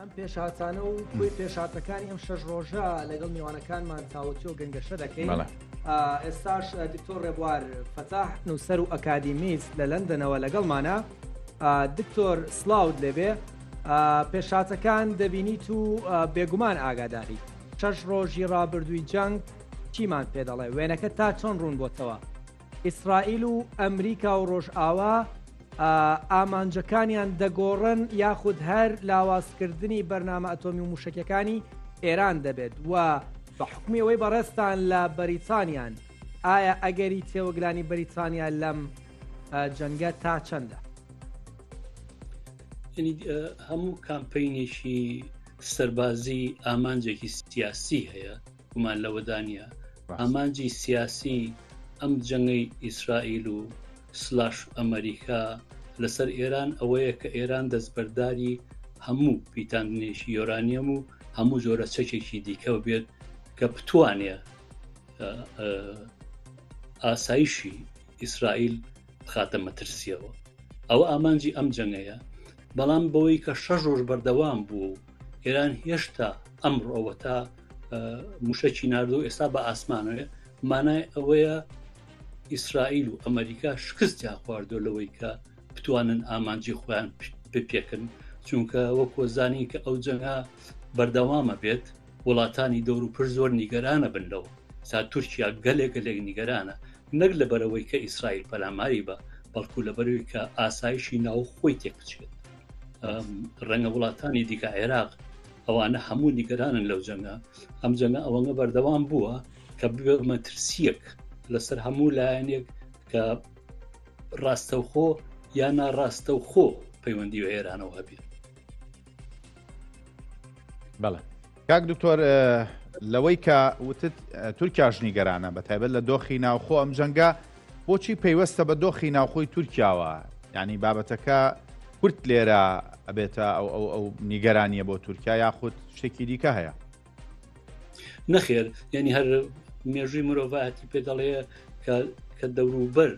ئەم پێشهاتانە و کوێ پێشاتەکانی ئەم شەش ڕۆژە لەگەڵ میوانەکانمان چاوەچی و گەنگەشە دەکەین ئێستاش دکتۆر ڕێبوار فەتاح نووسەر و ئەکادیمیست لە لەندەنەوە لەگەڵمانە دکتۆر سلااوود لێبێ پێشاتەکان دەبینیت و بێگومان ئاگاداری شەش ڕۆژی ڕابردووی جەنگ چیمان پێ دەڵێ وێنەکە تا چۆن ڕوون بۆتەوە ئیسرائیل و ئەمریکا و ڕۆژئاوا ئامانجەکانیان دەگۆڕن یاخود هەر لاوازکردنی بەرنامە ئەتۆمی و موشکەکانی ئێران دەبێت و بە حکومی ئەوەی بەڕێستان لە بەریتانیان ئایا ئەگەری تێوەگلانی بەریتانیا لەم جەنگە تا چەندە هەموو کامپینێکی سەربازی ئامانجێکی سیاسی هەیە گومان لەوەدانە ئامانجی سیاسی ئەم جەنگەی ئیسرائیل و سلاش ئەمریکا لەسەر ئێران ئەوەیە کە ئێران دەستبەرداری هەموو پیتاندنێکی یۆرانیەم و هەموو جۆرە چەکێکی دیکە بێت کە بتوانێ ئاسایشی ئیسرائیل خاتە مەترسیەوە ئەوە ئامانجی ئەم جەنگەیە بەڵام بەوەی کە شەژۆر بەردەوام بوو ئێران هێشتا ئەمڕۆەوە تا موشەکی نردۆ ئێستا بە ئاسمانەوە مانای ئەوەیە ئیسرائیل و ئەمریکا شکستیان خواردۆ لەوەی کە بتوانن ئامانجی خۆیان بپێکن چونکە وەکۆزانانی کە ئەو جەنگا بەردەوامە بێت وڵاتانی دەور و پر زۆر نیگەرانە بن لەوە تا تورکیا گەلێک گەلێک نیگەرانە نەک لە بەرەوەی کە ئیسرائیل پەلاماری بە بەڵکو لە بەرەوەی کە ئاسایشی ناو خۆی تێکچێت ڕەنگە وڵاتانی دیکە عێراق ئەوانە هەموو نیگەرانن لەو جەنگە ئەم جەنگە ئەوەنگە بەردەوام بووە کە ببێ مەترسیەک لەسەر هەموو لایەنێک کە ڕاستەوخۆ یا ناڕاستەوخۆ پەیوەندی و ئێرانەوە هەبێت بەڵێ کاک دکتۆر لەوەی کە وتت تورکیا ژنیگەرانە بە تایبەت لە دۆخی ناوخۆ ئەم جەنگە بۆچی پەیوەستە بە دۆخی ناوخۆی تورکیاوە یعنی بابەتەکە کورت لێرە ئەبێتە ئەو ئەو ئەو نیگەرانیە بۆ تورکیا یاخود شتێکی دیکە هەیە نەخێر یعنی هەر مێژووی مرۆڤایەتی پێ دەڵێ کە دەوروبەر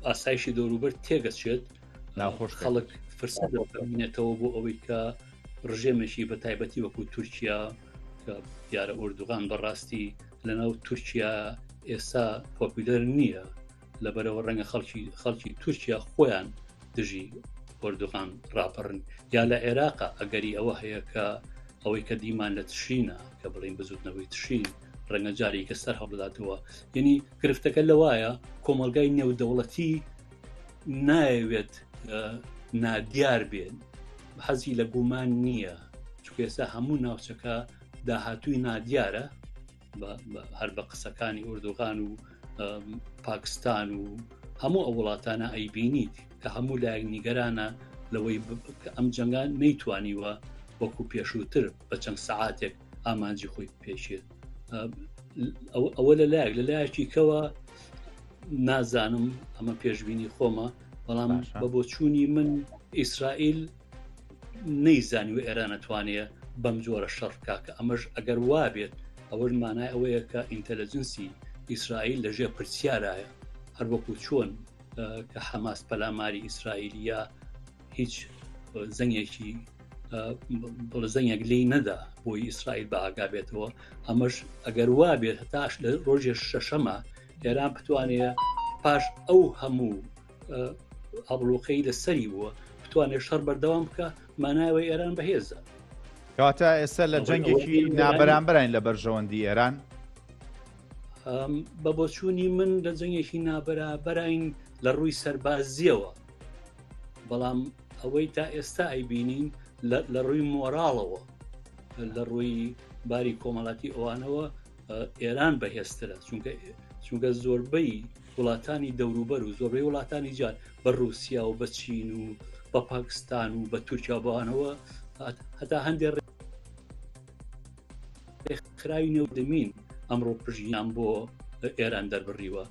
ئاسایشی دەوروبەر تێگەچێت ناخۆش خەڵک فرسە دەبینێتەوە بۆ ئەوەی کە ڕژێمێکی بە تایبەتی وەکو تورکیا کە دیارە ئۆردوغان بەڕاستی لەناو تورکیا ئێستا پۆپیلەر نییە لە بەرەوە ڕەنگە خەڵکی خەڵکی تورکیا خۆیان دژی ئۆردوغان ڕاپەڕن یا لە عێراقا ئەگەری ئەوە هەیە کە ئەوەی کە دیمان لە تشینە کە بڵین بزوتنەوەی تشین ڕەنگە جارێکە سەر هەڵبداتەوە یعنی گرفتەکە لەوایە کۆمەلگای نێودەوڵەتی ناوێت نادیار بێن حەزی لە گومان نییە چکێسا هەموو ناوچەکە داهاتووی نادیارە هەر بە قسەکانی ئوردوغان و پاکستان و هەموو ئەو وڵاتانە ئەیبینی کە هەموو لایەک نیگەرانە لەوەی کە ئەم جەنگان نەیتوانیوە وەکو پێشووتر بە چەند سعاتێک ئامانجی خۆی پێشێت ئەوە لە لایەک لە لایەکی کەوە نازانم ئەمە پێشببینی خۆمە بەڵام بە بۆچوونی من ئیسرائیل نەیزانیوە ئێران ئەتوانێ بەم جۆرە شەڕ بکە کە ئەمەش ئەگەر وابێت ئەوەش مانای ئەوەیە کە ئینتەلەجنسی ئیسرائیل لەژێ پرسیارایە هەر وەکو چۆن کە حەماس پەلاماری ئیسرائیلیا هیچ زەنگێکی بڵە زەنگێک لی نەدا بۆی ئیسرائیل بە ئاگا بێتەوە ئەمەش ئەگەر وا بێت هەتاش لە ڕۆژێ شەشەمە ئێران بتوانێت پاش ئەو هەموو ئابلوقەی لە سەری بووە بتوانێت شەڕ بەردەوام بکە مانایەوەی ئێران بەهێزە کەواتە ئێستا لە جەنگێکی نابەرامبەرین لە بەرژەوەندی ئێران بە بۆچوونی من لە جەنگێکی نابەرابەرین لە ڕووی سەربازیەوە بەڵام ئەوەی تا ئێستا ئەیبینین لە ڕووی مۆراڵەوە لە ڕووی باری کۆمەڵاتی ئەوانەوە ئێران بەهێزترە چونکە چونکە زۆربەی وڵاتانی دەوروبەر و زۆربەی وڵاتانی جار بە رووسیا و بە چین و بە پاکستان و بە تورکیا بەوانەوە هەتا هەندێک خراوی نەودەمین ئەمڕۆ پژیان بۆ ئێران دەربڕیوە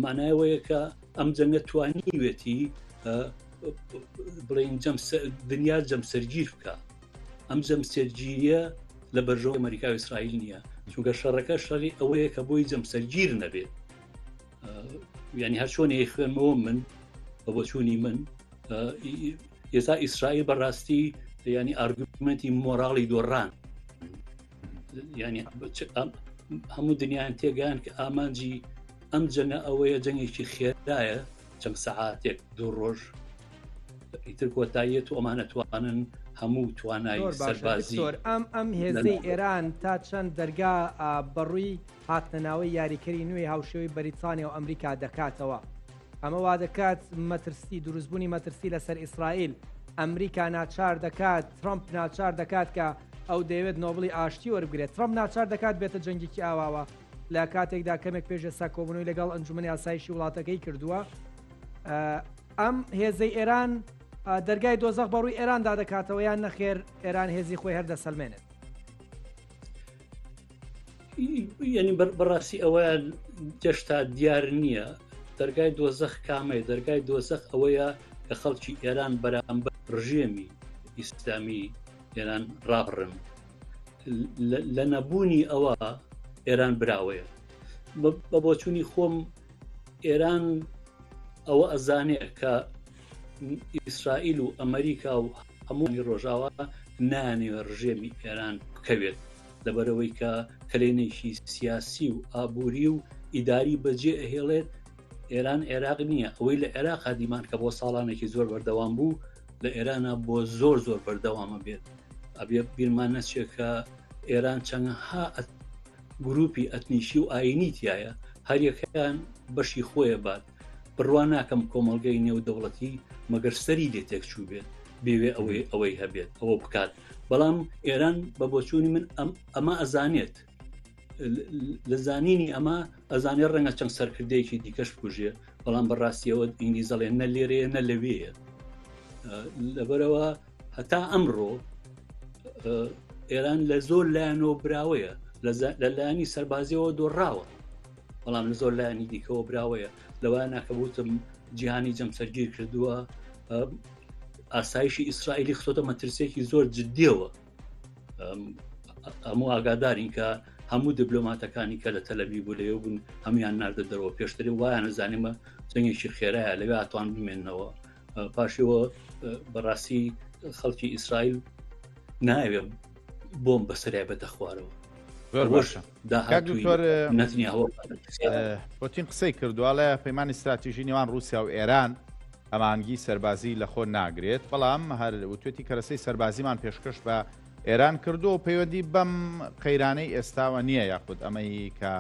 مانایەوەیەکە ئەم جەنگە توانیوێتی بڵێن دنیا جەمسەرگیر بکە ئەم جەمسەرگیریە لە بەرژەوە ئەمریکا و ئیسرائیل نییە چونگە شەڕەکە شەڕی ئەوەیە کە بۆی جەمسەرگیر نەبێت ینی هەر چۆنی خوێنمەوە من بە بۆچوونی من ئێستا ئیسرائیل بەڕاستی ینی ئارگومنتی مۆراڵی دۆڕان ینی هەموو دنیایان تێگەیان کە ئامانجی ئەم جەنە ئەوەیە جەنگێکی خێدایە چەند سەعاتێک دوو ڕۆژ ئیتر کۆتاییەت و ئەمانە توانن هەموو توانای سەربازی ئەم ئەم هێزەی ئێران تا چەند دەرگا بەڕووی هاتنە ناوەی یاریکەری نوێی هاوشێوەی بەریتانیا و ئەمریکا دەکاتەوە. ئەمە وادەکات مەترسی دروستبوونی مەترسی لەسەر ئیسرائیل ئەمریکا ناچار دەکات ترامپ ناچار دەکات کە ئەو دەیەوێت نۆبڵی ئاشتی وەربگرێت ترامپ ناچار دەکات بێتە جەنگێکی ئاواوە لە کاتێکدا کەمێک پێشە ساکۆبوونەوەی لەگەڵ ئەنجومنی ئاسایشی وڵاتەکەی کردووە ئەم هێزەی ئێران دەرگای دۆزەق بەڕووی ئێراندا دەکاتەوە یان نەخێر ئێران هێزی خۆی هەر دەسەلمێنێت ینی بەڕاستی ئەوە گەشتا دیار نییە دەرگای دۆزەخ کامەیە دەرگای دۆزەخ ئەوەیە کە خەڵکی ئێران بەرامبەر ڕژێمی ئیسلامی ئێران ڕاڕن لە نەبوونی ئەوە ئێران براوەیە بە بۆچوونی خۆم ئێران ئەوە ئەزانێت کە ئیسرائیل و ئەمریکا و هەمووی ڕۆژاوا نانەوێت ڕژێمی ئێران بکەوێت لەبەرەوەی کە کلێنێکی سیاسی و ئابووری و ئیداری بەجێ ئەهێڵێت ئێران عێراق نییە ئەوەی لە عێراق دیمان کە بۆ ساڵانێکی زۆر بەردەوام بوو لە ئێرانە بۆ زۆر زۆر بەردەوامە بێت ئەبێ بیرمان نەچێت کە ئێران چەندها گروپی ئەتنیشی و ئاینی تایە هەریەکەیان بەشی خۆیە بات بڕوا ناکەم کۆمەڵگەی نێودەوڵەتی مەگەر سەری لێ تێک چوو بێت بێوێ ئەوەی ئەوەی هەبێت ئەوە بکات بەڵام ئێران بە بۆچوونی من ئەم ئەمە ئەزانێت لە زانینی ئەمە ئەزانێ ڕەنگە چەند سەرکردەیەکی دیکەش بکوژێ بەڵام بەڕاستیەوە ئینگلیزەڵێ نە لێرەیە نە لەوەیە لەبەرەوە هەتا ئەمڕۆ ئێران لە زۆر لایەنەوە براوەیە لە لایەنی سەربازیەوە دۆڕاوە بەڵام لە زۆر لایەنی دیکەەوە براوەیە لەوە ناکەبوتم جیهانی جەمسەرگیر کردووە ئاسایشی ئیسرائیلی خۆتە مەترسێکی زۆر جددیەوە هەموو ئاگادارین کە هەموو دیبلۆماتەکانی کە لە تەلەبی بوو لەێ بوون هەموان ناردە دەرەوە پێشتری وایان زانیمە جەنگێکی خێرایە لەوێ ئەتوان بمێنەوە پاشەوە بەڕاستی خەڵکی ئیسرائیل ناوێ بۆم بەسەرای بەتە خوارەوە زۆر باشە پۆتین قسەی کردوواڵە پەیمانی استراتیژی نێوان رووسیا و ئێران ئەمانگی سەربازی لە خۆ ناگرێت بەڵام هەر وتێتی کەرەسەی سەربازیمان پێشکەش بە ئێران کردو و پەیوەندی بەم قەیرانەی ئێستاوە نییە یاخود ئەمەی کە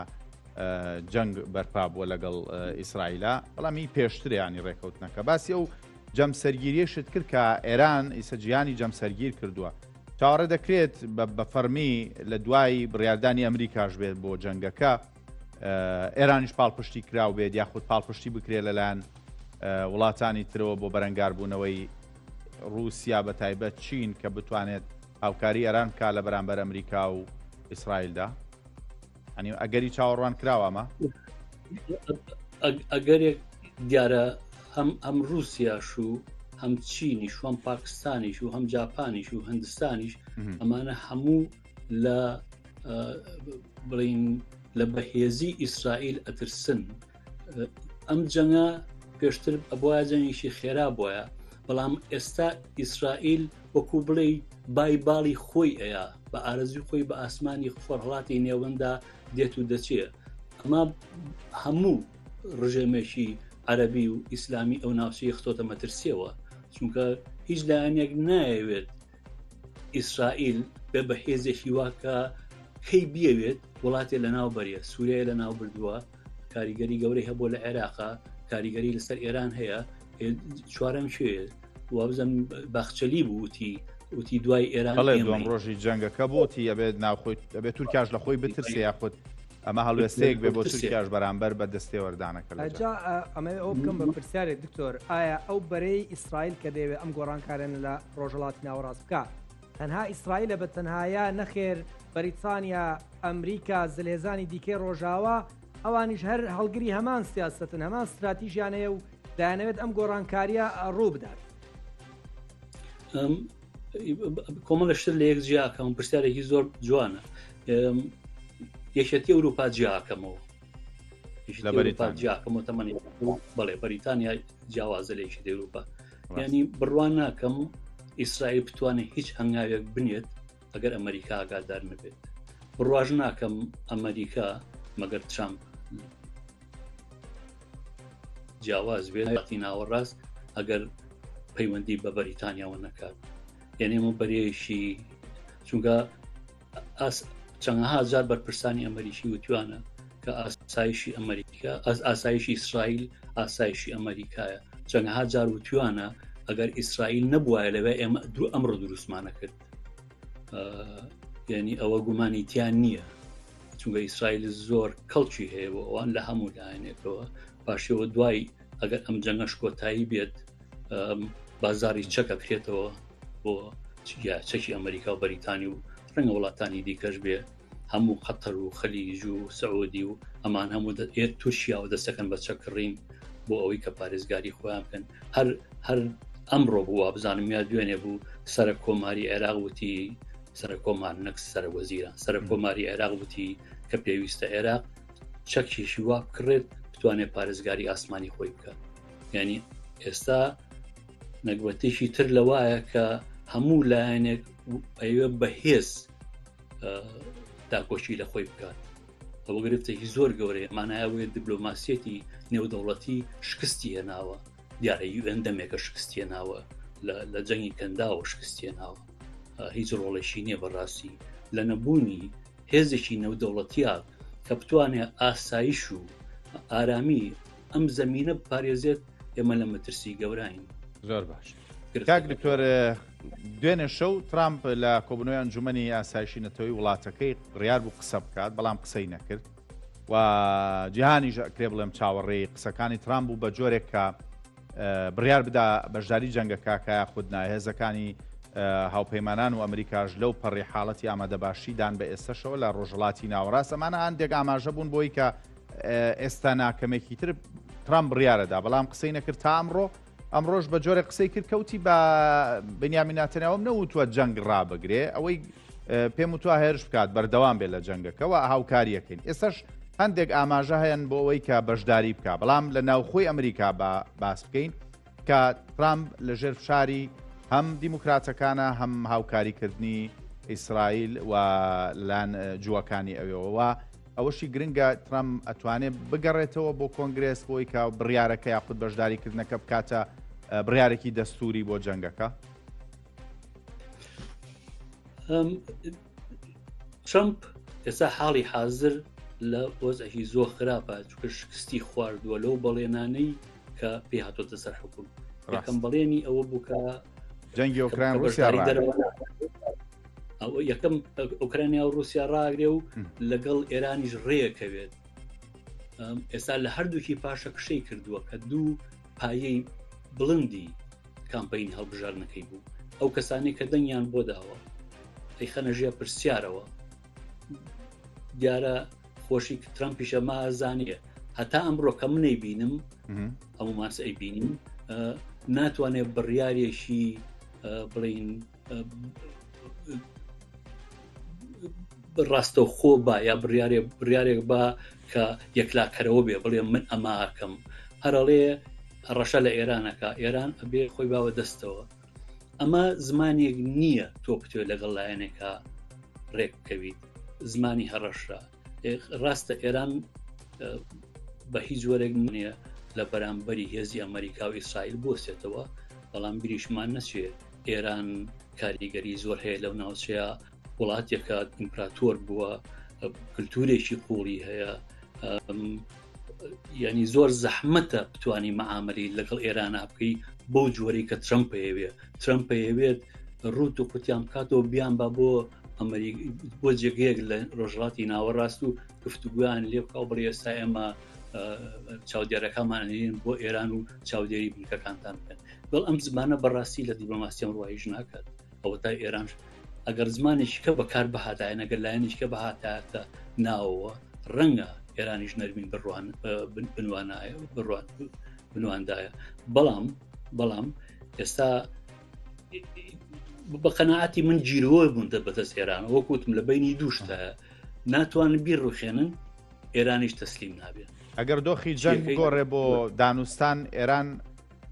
جەنگ بەرپا بووە لەگەڵ ئیسرائیلا بەڵامی پێشتریانی ڕێککەوتنەکە باسی ئەو جەمسەرگیریشت کرد کە ئێران ئیسە جیانی جەمسەرگیر کردووە چاوەڕێ دەکرێت بە فەرمی لە دوای بڕاردانی ئەمریکاش بێت بۆ جەنگەکە ئێرانیش پاڵپشتی کراو بێت یاخود پاڵپشتی بکرێت لەلایەن وڵاتانی ترەوە بۆ بەرەنگاربوونەوەی رووسیا بە تایبەت چین کە بتوانێت هاوکاری ئەران کا لە بەرامبەر ئەمریکا و ئیسرائیلدا ئەنی ئەگەری چاوەڕوان کراوە ئەمە ئەگەرێک دیارە هەم ئەم رووسیاش و هەم چینیش هەم پاکستانیش و هەم جاپانیش و هندستانیش ئەمانە هەموو لە بڵین لە بەهێزی ئیسرائیل ئەترسن ئەم جەنگە پێشتر ئەبواە جەنگیشی خێرا بۆیە بەڵام ئێستا ئیسرائیل وەکو بڵێ بای باڵی خۆی ئەیە بە ئارزوی خۆی بە ئاسمانی خۆرهڵاتی نێوەندا دێت و دەچێ ئەمە هەموو ڕژێمێکی عەربی و ئیسلامی ئەو ناوچەی خۆتە مەترسیەوە چونکە هیچ لایەنێک نایەوێت ئیسرائیل بێ بە هێزێکی واکە کەی بیەوێت وڵاتێ لە ناو بەریە سووریای لە ناو بردووە کاریگەری گەورەی هەبوو لە عێراقا کاریگەری لەسەر ئێران هەیە چوارم شێ وابزم باخچەلی بووتی وتی دوای ئێران دوم ڕۆژی جەنگەکە بۆتی ئەبێت ناوخۆی ئەبێت تورکاش لە خۆی بترسێ یاخود ئەمە هەڵوێستەیەک بێ بۆ تورکیاش بەرامبەر بە دەستێوەردانەکە لەجا ئەمە ئەو بکەم بە پرسیارێک دکتۆر ئایا ئەو بەرەی ئیسرائیل کە دەیەوێت ئەم گۆڕانکارێن لە ڕۆژەڵاتی ناوەڕاست بکە تەنها ئیسرائیلە بە تەنهایا نەخێر بەریتانیا ئەمریکا زلهێزانی دیکەی ڕۆژاوا ئەوانیش هەر هەڵگری هەمان سیاستن هەمان استراتیژیانەیە و دانەوێت ئەم گۆڕانکاریە ڕوو بدات کۆمەڵە شتر لە یەک جیاکەم پرسیارێکی زۆر جوانە یەکێتی ئەوروپا جیاکەمەوە جیاکەمەوە تەمەنی بەڵێ بەریتانیا جیاوازە لە یەکی ئەوروپا ینی بڕوان ناکەم ئیسرائیل بتوانێت هیچ هەنگاوێک بنێت ئەگەر ئەمریکا ئاگادار نەبێت بڕواژ ناکەم ئەمریکا مەگەر ترامپ جیاواز بێتی ناوەڕاست ئەگەر پەیوەندی بە بەریتانیاوە نەکات یعنی و بەرێشی چونگە چەندەها جار بەرپرسانی ئەمریکی وتوانە کە ئاسایشی ئەمریکا ئەس ئاسایشی ئیسرائیل ئاسایشی ئەمریکایە چەندەها جار وتوانە ئەگەر ئیسرائیل نەبووایە لەوێ ئێمە دوو ئەمڕۆ دروستمانە کرد یعنی ئەوە گومانی تیان نییە چونگە ئیسرائیل زۆر کەڵکی هەیە بۆ ئەوان لە هەموو لایەنێکەوە پاشەوە دوای ئەگەر ئەم جەنگەش کۆتایی بێت بازاری چەکە بکرێتەوە بۆ چەکی ئەمریکا و بەریتانی و ڕەنگە وڵاتانی دیکەش بێ هەموو قەتەر و خەلیج و سعودی و ئەمان هەموو ئێر تورکیا و دەستەکەن بە چەکڕین بۆ ئەوەی کە پارێزگاری خۆیان بکەن هەر هەر ئەمڕۆ بوو وابزانم یا دوێنێ بوو سرە کۆماری عێراق وتی سرە کۆمان نەک سرە وەزیران سرە کۆماری عێراق وتی کە پێویستە عێراق چەکیشی وا بکڕێت بتوانێت پارێزگاری ئاسمانی خۆی بکات یعنی ئێستا نەگوەتێکی تر لە وایە کە هەموو لایەنێک ئەوێ بەهێز داکۆشی لە خۆی بکات ئەوە گرفتێکی زۆر گەورەیە مانایەوەی دیبلۆماسیەتی نێودەوڵەتی شکستی هێناوە دیارە یوئەن دەمێکە شکستیە ناوە لە جەنگی کەنداوە شکستیە ناوە هیچ ڕۆڵێکی نییە بەڕاستی لە نەبوونی هێزێکی نەودەوڵەتیە کە بتوانێت ئاسایش و ئارامی ئەم زمینە بپارێزێت ئێمە لە مەترسی گەوراین زۆر باش کاک دکتۆر دوێنێ شەو ترامپ لە کۆبنەوەی ئەنجومی ئاسایشی نەتەوەی وڵاتەکەی ڕیار بوو قسە بکات بەڵام قسەی نەکرد و جیهانیش کرێ بڵێم چاوەڕێی قسەکانی ترامپ بوو بە جۆرێک کە بڕیار بدا بەشداری جەنگەکە کە یاخود نا، هێزەکانی هاوپەیمانان و ئەمریکاش لەو پەڕی حاڵەتی ئامادەباشی دان بە ئێستەشەوە لە ڕۆژهڵاتی ناوەڕاست ئەمانە هەندێک ئاماژە بوون بۆی کە ئێستا ناکەمێکی تر ترام بڕیارەدا بەڵام قسەی نەکرد تا ئەمڕۆ ئەمڕۆژ بە جۆرە قسەی کرد کەوتی بە بنیامیناتەنەوەم نەوتوە جەنگ ڕابگرێ ئەوەی پێم وتوە هێرش بکات بەردەوام بێت لە جەنگەکەەوە هاوکاریەکەین ئێسش هەندێک ئاماژە هەیەن بۆ ئەوەی کە بەشداری بکە بەڵام لە ناوخۆی ئەمریکا بە باس بکەین کە ترامپ لە ژێر فشاری هەم دیموکراتەکانە هەم هاوکاریکردنی ئیسرائیل و لەلایەن جووەکانی ئەوێەوە ئەوەشی گرنگە ترام ئەتوانێت بگەڕێتەوە بۆ کۆنگرس بۆی کە بڕارەکە یاخود بەشداریکردنەکە بکاتە بڕارێکی دەستوری بۆ جەنگەکە ترمپ ئێستا حاڵی حاضر لە وەزەکی زۆر خراپە چکە شکستی خواردووە لەو بەڵێنانەی کە پێ هاتۆتە سەر حکوم ڕکەم بەڵێنی ئەوە بووکە جەنگی ئۆکران ئەو یەکەم ئۆکرانیا و رووسیا ڕاگرێ و لەگەڵ ئێرانیش ڕێکەوێت ئێستا لە هەردووکی پاشە کشەی کردووە کە دوو پایەی بڵندی کامپین هەڵبژاردنەکەی بوو ئەو کەسانی کە دەنگیان بۆ داوە ئەی خەنە ژێ پرسیارەوە دیارە خۆشی ترم پیشە مازانە هەتا ئەمڕۆ کە منەی بینم هەموو ماس ئەی بینیم ناتوانێت بڕیارێکی بڵین ڕاستە خۆ با یا بڕارێ بڕارێک با کە یەکلاکەرەوە بێ بڵێ من ئەماکەم هەرڵێ ڕەشە لە ئێرانەکە ئێران ئەبێ خۆی باوە دەستەوە ئەمە زمانێک نییە تۆ بتوێت لەگەڵ لایەنێکە ڕێک بکەویت زمانی هەڕەشە ڕاستە ئێران بە هیچ جۆرێک نیە لە بەرامبەری هێزی ئەمریکا و ئیسرائیل بۆسێتەوە بەڵام گریشمان نەچێت ئێران کاریگەری زۆر هەیە لەو ناوچەیە وڵاتێکە ئیمپراتۆر بووە کللتورێکی قوڵی هەیە ینی زۆر زەحمەتە بتانی معاملی لەگەڵ ئێران بکەی بەو جۆرەی کە ترمپ پێوێت ترمپ پێوێت ڕوت و قوتیان بکاتەوە بیان بە بۆ ئەمریک بۆ جێگەیەک لە ڕۆژڵاتی ناوەڕاست و گفتوگویان لێ بکە و بڵێ ئێستا ئێمە چاودێرەکەمانێن بۆ ئێران و چاودێری بنکەکانتان بکەن دڵ ئەم زمانە بەڕاستی لە دیبلۆماسیەم ڕایژ ناکات ئەوەتای ئێرانش ئەگەر زمانێکیکە بەکار بهاتایە نەگەر لایەنیشکە بەهاتاتە ناوەوە ڕەنگە ئێرانیش نەرمین بڕوان بنوانایە بڕوان بنواندایە بەڵام بەڵام ئێستا بە قەنەعاتی من گیرەوە بوون دە بەدەست ئێران وەکوتم لە بینی دووشتە ناتوان بیر ڕوخێنن ئێرانیش تەسلیم نابێت ئەگەر دۆخی جەنگ گۆڕێ بۆ دانوستان ئێران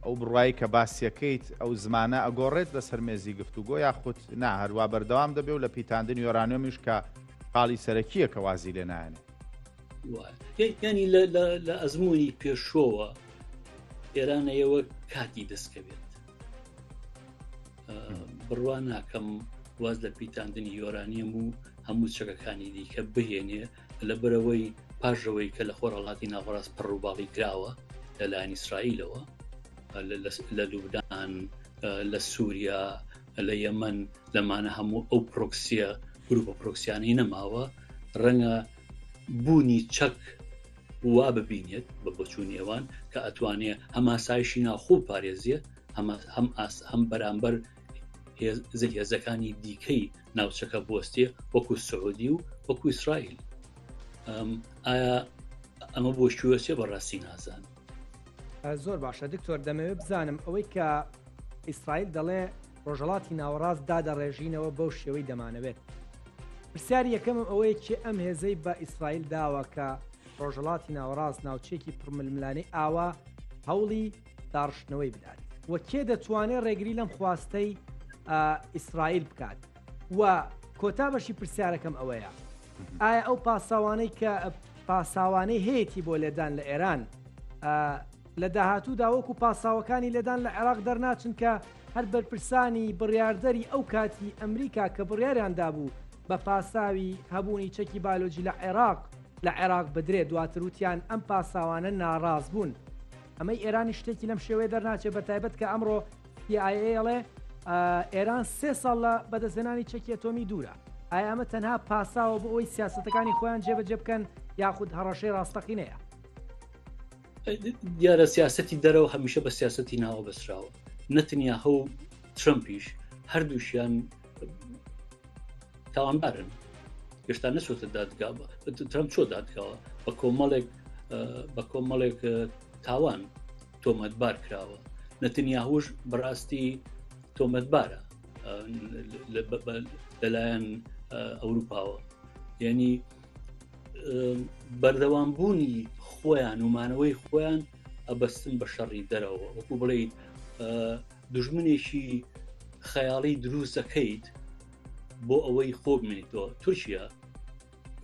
ئەو بڕوایەی کە باسیەکەیت ئەو زمانە ئەگۆڕێت لەسەر مێزی گفتوگۆ یاخود نا هەروا بەردەوام دەبێ و لە پیتاندنی یۆرانۆمیش کە خاڵی سەرەکییە کە وازی لێ نایەنێ ینی لە ئەزمموی پێشۆوە ئێرانەیەوە کاتی دەستکەوێت بڕوا ناکەم واز لە پیتاندنی یۆرانیەم و هەموو چەکەکانی دیکە بهێنێ لەبەرەوەی پاژەوەی کە لە خۆرهڵاتی ناوەڕاست پڕڕووباڵی کراوە لەلایەن ئیسرائیلەوە لە لوبدان لە سووریا لە یەمەن لەمانە هەموو ئەو پرۆکسیە گروپە پرۆکسیانەی نەماوە ڕەنگە بوونی چەک وا ببینێت بە بچوونی ئەوان کە ئەتوانێ هەماسایشی ناخۆ پارێزیە هەم ئاس هەم بەرامبەر زل هێزەکانی دیکەی ناوچەکە بوەستێ وەکو سعودی و وەکو ئیسرائیل ئایا ئەمە بۆ شووەێ بەڕاستی نازان زۆر باشە دکتۆر دەمەوێت بزانم ئەوەی کە ئیسرائیل دەڵێ ڕۆژەڵاتی ناوەڕاست دادەڕێژینەوە بەو شێوەی دەمانەوێت پرسیار یەکەم ئەوەیە چێ ئەم هێزەی بە ئیسرائیل داوە کە ڕۆژەڵاتی ناوەڕاست ناوچێکی پڕململانی ئاوا هەوڵی داڕشتنەوەی بدات و کێ دەتوانێت ڕێگری لەم خواستەی ئیسرائیل بکات و کۆتا بەشی پرسیارەکەم ئەوەیە ئایا ئەو پاساوانەی کە پاساوانەی هەیەی بۆ لێدان لە ئێران لە داهاتوو داوەکو پاساوەکانی لێدان لە عێراق دەرناچن کە هەر بەرپرسانی بڕاردەری ئەو کاتی ئەمریکا کە بڕیاریاندا بوو بە پاساوی هەبوونی چەکی بالۆجی لە عێراق لە عێراق بدرێت دواتروتیان ئەم پاساوانە ناڕاز بوون ئەمەی ئێرانیش شتێکی لەم شێوەیە دەرناچێت بە تایبەت کە ئەمڕۆ ئەڵێ ئێران سێ ساڵ لە بەدەستێنانی چەکی ئەتۆمی دوورە ئایا ئەمە تەنها پاساوە بۆ ئەوی سیاستەکانی خۆیان جێبەجێ بکەن یاخود هەڕەشەی ڕاستەقینەیە دیارە سیاستی دەرەوە هەمیشە بە سیاستی ناوە بەسراوە نەتنیا هەو ترمپیش هەردووشیان تاوانبارن گەشتا نەچۆتە دادگا ترم چۆ دادگاوە بە کۆمەڵێک بە کۆمەڵێک تاوان تۆمەتبار کراوە نەتنیاهوش بەڕاستی تۆمەتبارە لەلایەن ئەوروپاوە یعنی بەردەوام بوونی خۆیان ومانەوەی خۆیان ئەبەستن بە شەڕی دەرەوە وەکو بڵیت دژمنێکی خەیاڵی دروستەکەیت بۆ ئەوەی خۆ بمێنیتەوە تورکیا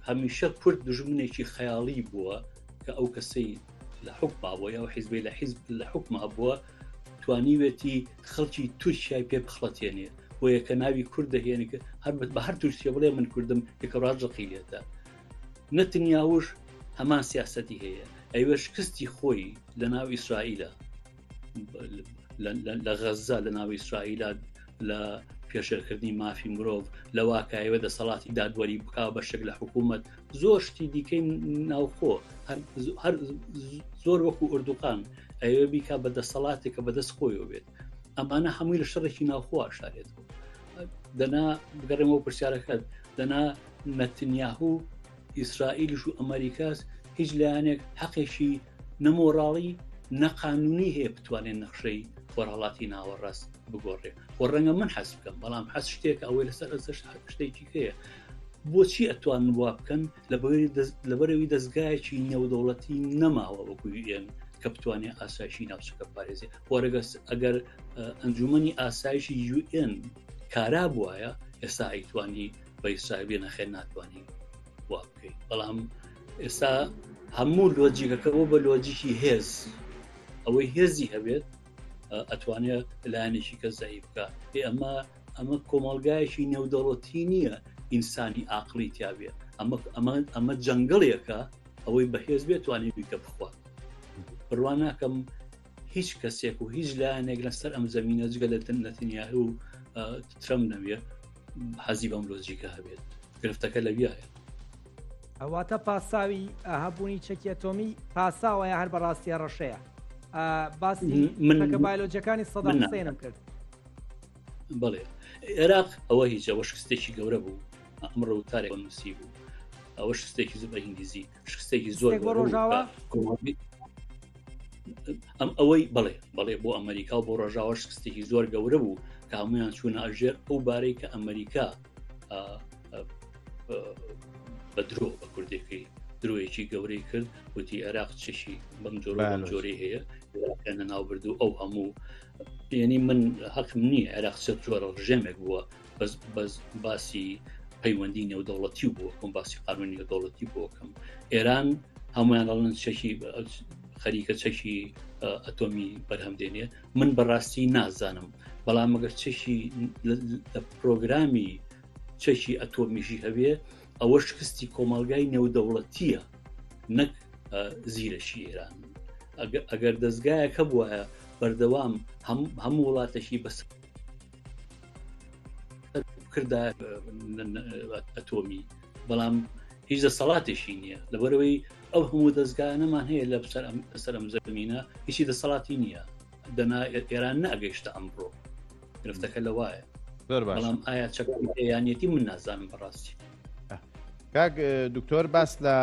هەمیشە کورد دژمنێکی خەیاڵی بووە کە ئەو کەسەی لە حکما بۆ ئەو حیزبی لە حیزب لە حکما بووە توانیوێتی خەڵکی تورکیای پێ بخڵەتێنێ بۆ یەکە ناوی کورد دەهێنێ کە هەر بە هەر تورکیە بڵێ من کوردم یەکە ڕاژەقی لێتە نەتنیاوش هەمان سیاستی هەیە ئەوێ شکستی خۆی لە ناو ئیسرائیلە لە غەززە لە ناو ئیسرائیلە لە پێشێلکردنی مافی مرۆڤ لە واکایوە دەسەڵاتی دادوەری بک بە شک لە حکوومەت زۆر شتی دیکەی ناوخۆ هەر زۆر وەکو ئۆردوقان ئەوێ بیکە بە دەسەڵاتێک کە بەدەست خۆیەوە بێت ئەمانە هەمووی لە شەڕێکی ناوخۆ شارێت دەنا بگەڕێمەوە پرسیارەکەت دەنا نەتنیاهوو ئیسرائیلش و ئەمریکاس هیچ لایەنێک حەقێکی نە مۆراڵی نەقانونی هەیە بتوانێت نەخشەی خۆرهڵاتی ناوەڕاست بگۆڕێ و ڕەنگە من حەز بکەم بەڵام حەز شتێک ئەوەی لەسەر ئەسەر شتێکی هەیە بۆچی ئەتوان وا بکەن لە بەرەوی دەستگایەکی نێودەوڵەتی نەماوە وەکوی ئێن کە بتوانێت ئاسایشی ناوچەکە پارێزی وەرەگەس ئەگەر ئەنجومی ئاسایشی UN کارا بواە ئێستا ئەیتوانی بەیسابێ نەخێن ناتوانین وا بکەین بەڵام ئێستا هەموو لۆجیکەکە بۆ بە لۆجیکی هێز ئەوەی هێزی هەبێت ئەتوانێت لایەنێکی کە زایی بکە پێ ئەمە ئەمە کۆمەلگایەکی نێودەوڵەتی نییە ئینسانی ئاقلی تیاابێت ئەمە ئەمە ئەمە جەنگڵیەکە ئەوەی بەهێز بێت توانێت بیکە بخوات بڕوان ناکەم هیچ کەسێک و هیچ لایەنێک لەسەر ئەم زمینە جگە لە نەتنیاه و ترم نەوێت حەزی بەم لۆجیکە هەبێت گرفتەکە لەویایە ئەواتە پاساوی هەبوونی چەکی ئەتۆمی پاساوەیە هەر بەڕاستیە ڕەشەیە باسی منەکە بایلۆجەکانی سەدا حسێنم کرد بڵێ عێراق ئەوە هیچەوە شکستێکی گەورە بوو ئەمڕۆ وتارێک نووسی بوو ئەوە شستێکی زبە ئینگلیزی شکستێکی زۆر ئەم ئەوەی بڵێ بەڵێ بۆ ئەمریکا و بۆ ڕژاوە شکستێکی زۆر گەورە بوو کە هەمویان چوونە ئەژێر ئەو بارەی کە ئەمریکا بە درۆ بە کوردێکی درۆیەکی گەورەی کرد وتی عێراق چشی بەم جۆر جۆری هەیە ناوبرد و ئەو هەموو یعنی من حەقم نییە عێراق سێ جۆرە ڕژێمێک بووە بەس باسی پەیوەندی نێودەوڵەتی و بۆکەم باسی قانون نێودەوڵەتی بۆکەم ئێران هەمویان ئەڵن چەکی خەریکە چەکی ئەتۆمی بەرهەم دێنێ من بەڕاستی نازانم بەڵام مەگەر چەکی لە پرۆگرامی چەکی ئەتۆمیژی هەوێ ئەوە شکستی کۆمەلگای نێودەوڵەتیە نەک زیرەشی ئێران ئەگەر دەستگایەکە بواە بەردەوام هەموو وڵاتەکی بەسەر کردە ئەتۆمی بەڵام هیچ دەسەڵاتێکی نییە لەبەرەوەی ئەو هەموو دەستگانەمان هەیە لە سەرم زەمینە هیچی دەسەڵاتی نییە دەنا ئێران ناگەیشتە ئەمڕۆ گرفتەکە لە وایە بەڵام ئایا چەکیانەتی من نازانم بەڕاستی کاک دکتۆر باس لە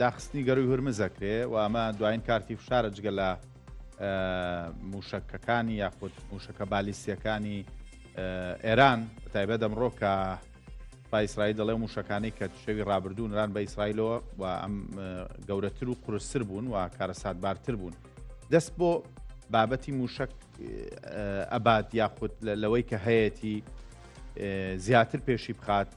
داخستنی گەروی هورمزەکرێ و ئەمە دوایین کارتی فشارە جگە لە موشەکەکانی یاخود موشەکە بالیسیەکانی ئێران تایبە دەمڕۆ کە پایسرای دەڵێ موشەکانی کە شەوی ڕابردوو نران بە ئیسرائیلەوە و ئەم گەورەتر و قرسسر بوون و کارەساتبارتر بوون دەست بۆ بابەتی موشک ئەبات یاخود لەوەی کە هەیەی زیاتر پێشی بخات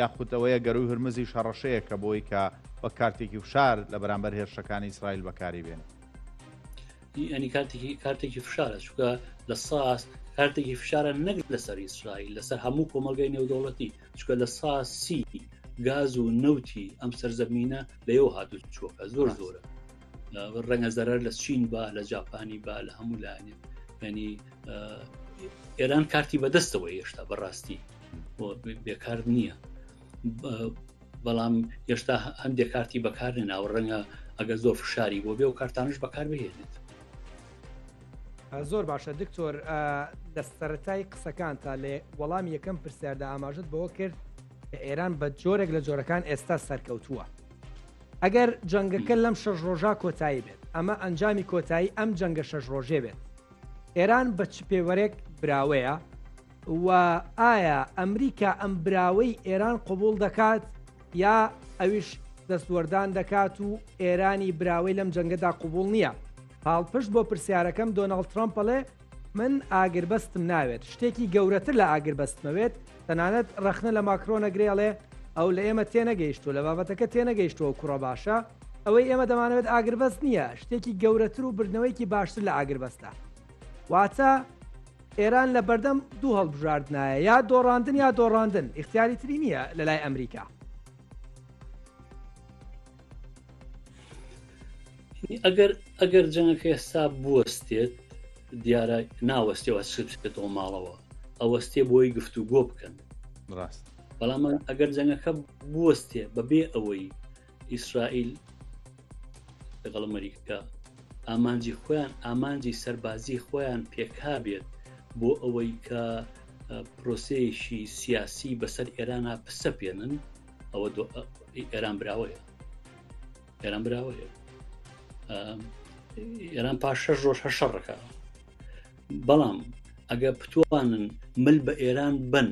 یاخود ئەوەیە گەروی هەرمزی شەڕەشەیە کە بۆی کە وە کارتێکی فشار لە بەرامبەر هێرشەکانی ئیسرائیل بەکاری بێنێت ئەنی کاتێکی کارتێکی فشارە چکە لە ساس کارتێکی فشارە نەک لەسەر ئیسرائیل لەسەر هەموو کۆمەلگەی نێودەوڵەتی چکە لە ساسی گاز و نەوتی ئەم سەرزەمینە لەو هاتو چۆکە زۆر زۆرە ڕەنگە زەرەر لە چین با لە جاپانی با لە هەموو لایەنێ ینی ئێران کارتی بەدەستەوە هێشتا بەڕاستی بێکار نییە بەڵام هێشتا هەندێک کارتی بەکار نەناوە ڕەنگە ئەگەر زۆر فشاری بۆ بێ و کارتانش بەکار بهێنێت زۆر باشە دکتۆر لە سەتای قسەکان تا لێ وەڵام یەکەم پرسیاردا ئاماژت بەوە کرد کە ئێران بە جۆرێک لە جۆرەکان ئێستا سەرکەوتووە ئەگەر جەنگەکە لەم شەش ڕۆژە کۆتایی بێت ئەمە ئەنجامی کۆتایی ئەم جەنگە شەش ڕۆژێ بێت ئێران بە چ پێوەرێک براوەیە و ئایا ئەمریکا ئەم براوەی ئێران قبوڵ دەکات یا ئەویش دەستوەردان دەکات و ئێرانی براوەی لەم جەنگەدا قبوڵ نییە پاڵپشت بۆ پرسیارەکەم دۆناڵد ترامپەڵێ من ئاگربەستم ناوێت شتێکی گەورەتر لە ئاگربەستمەوێت تەنانەت ڕەخنە لە ماکرۆنە گرێڵێ ئەو لە ئێمە تێنەگەیشتو لە بابەتەکە تێنەگەیشتەوە کوڕە باشە ئەوەی ئێمە دەمانەوێت ئاگربەست نییە شتێکی گەورەتر و بردنەوەیکی باشتر لە ئاگربەستە واتە ئێران لە بەردەم دوو هەڵبژاردنایە، یا دۆڕاندن یا دۆڕاندن، ئیختیاری تری نییە لە لای ئەمریکا. ئەگەر ئەگەر جەنگەکە ئێستا بوەستێت دیارە ناوەستەوە سبێتەوە ماڵەوە ئەوەستێ بۆی گفتو گۆ بکەن ڕاست بەڵام ئەگەر جەنگەکە بوەستێ بەبێ ئەوەی ئیسرائیل لەگەڵ ئەمریکا ئامانجی خۆیان ئامانجی سەربازی خۆیان پێکا بێت بۆ ئەوەی کە پرۆسەیەکی سیاسی بەسەر ئێرانە پسە پێێنن ئەوە ئێران براوەیە ئێران براوەیە ئێران پاش شەش ڕۆژ هە شەڕەکە بەڵام ئەگە پتوانن مل بە ئێران بن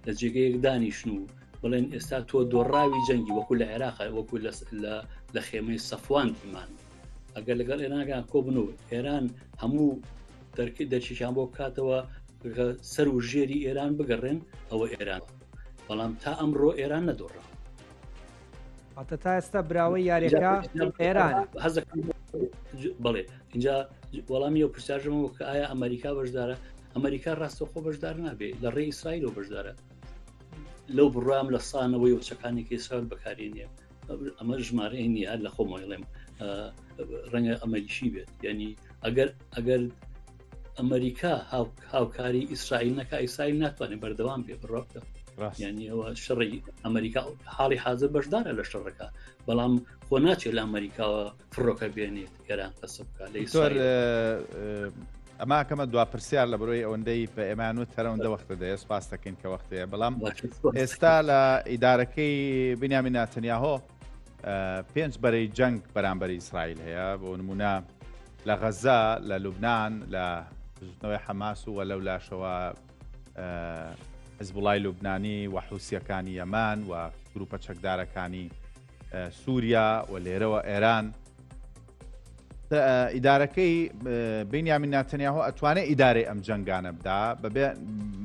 لە جێگەیەک دانیشن و بڵێن ئێستا تۆ دۆڕاوی جەنگی وەکو لە عێراق وەکو لە خێمەی سەفوان ئیمان ئەگەر لەگەڵ ئێرانگان کۆبن و ئێران هەموو دەرکی دەرکیان بۆ بکاتەوە سەر و ژێری ئێران بگەڕێن ئەوە ئێران بەڵام تا ئەمڕۆ ئێران نەدۆڕاوە ئەتە تا ئێستا براوە یاریەکە ئێران بڵێ اینجا وەڵامی ئەو پرسیاژمەوە کە ئایا ئەمریکا بەشدارە ئەمریکا ڕاستەخۆ بەشدار نابێ لە ڕێ ئیسرائیل و بەشدارە لەو بڕام لە سانەوەی وچەکانی کەسرات بەکارێنێ ئەمە ژمارەی نیە لە خۆمەڵێم ڕەنگە ئەمەریشی بێت ینی ئەگەر ئەگەر ئەمریکا هاوکاری ئیسرائیل نەکە ئیسرائیل ناتوانێت بەردەوام بێ بڕۆکە ڕاستیانی ئەوە شڕی ئەمریکا حاڵی حاضر بەشدارە لە شەڕەکە بەڵام خۆ ناچێت لە ئەمریکاوە فڕۆکە بێنێت گەران قەسە بکە لە ئیسۆر ئەماکەمە دو پرسیار لە بەرۆی ئەوەندەی بە ئێمان و تەرەوەندە وەختە دەێ سپاس دەکەین کە وەختەیە بەڵام ئێستا لە ئیدارەکەی بنیامی ناتەنیاهۆ پێنج بەرەی جەنگ بەرامبەری ئیسرائیل هەیە بۆ نمونە لە غەزە لە لوبناان لە بزوتنەوەی حەماس و وە لەو لاشەوە حزبڵای لوبنانی و حوسیەکانی یەمان و گروپە چەکدارەکانی سووریا و لێرەوە ئێران ئیدارەکەی بینیامین ناتەنیاهۆ ئەتوانێت ئیدارەی ئەم جنگانە بدا بەبێ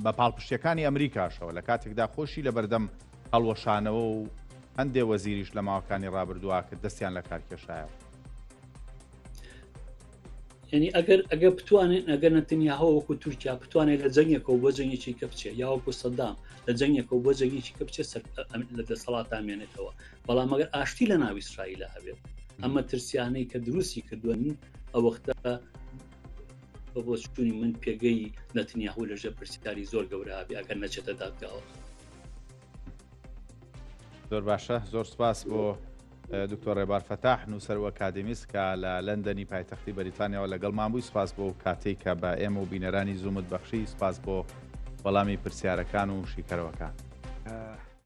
بە پاڵپشتەکانی ئەمریکاشەوە لە کاتێکدا خۆشی لە بەردەم هەڵوەشانەوە و هەندێ وەزیریش لە ماوەکانی ڕابردووە کە دەستیان لە کار کێشایە. ینی ئەگەر ئەگە بتوانێت ئەگەر نەتەنیاهەوە وەکو تورکیا بتوانێت لە جەنگێکەوە بۆ جەنگێکی کە بچێت یا وەکو سەدام لە جەنگێکەوە بۆ جەنگێکی کە بچێت سەر لە دەسەڵاتا مێنێتەوە بەڵام مەگەر ئاشتی لە ناوی ئیسرائیلە هەبێت ئەمە ترسیانەی کە دروستی کردوون ئە وەختە بە بۆچوونی من پێگەی نەتنیاهو لەژێ پرسیاری زۆر گەورە هەبێ ئەگەر نەچێتە دادگاوە زۆر باشە زۆر سپاس بۆ دکتۆر ڕێبار فەتاح نووسەر و ئەکادمیست کە لە لەندەنی پایتەختی بەریتانیاەوە لەگەڵ مابووی سپاس بۆ کاتێک کە بە ئێمە و بینەرانی زوومت بەخشی سپاس بۆ وەڵامی پرسیارەکان و شیکەرەوەکان.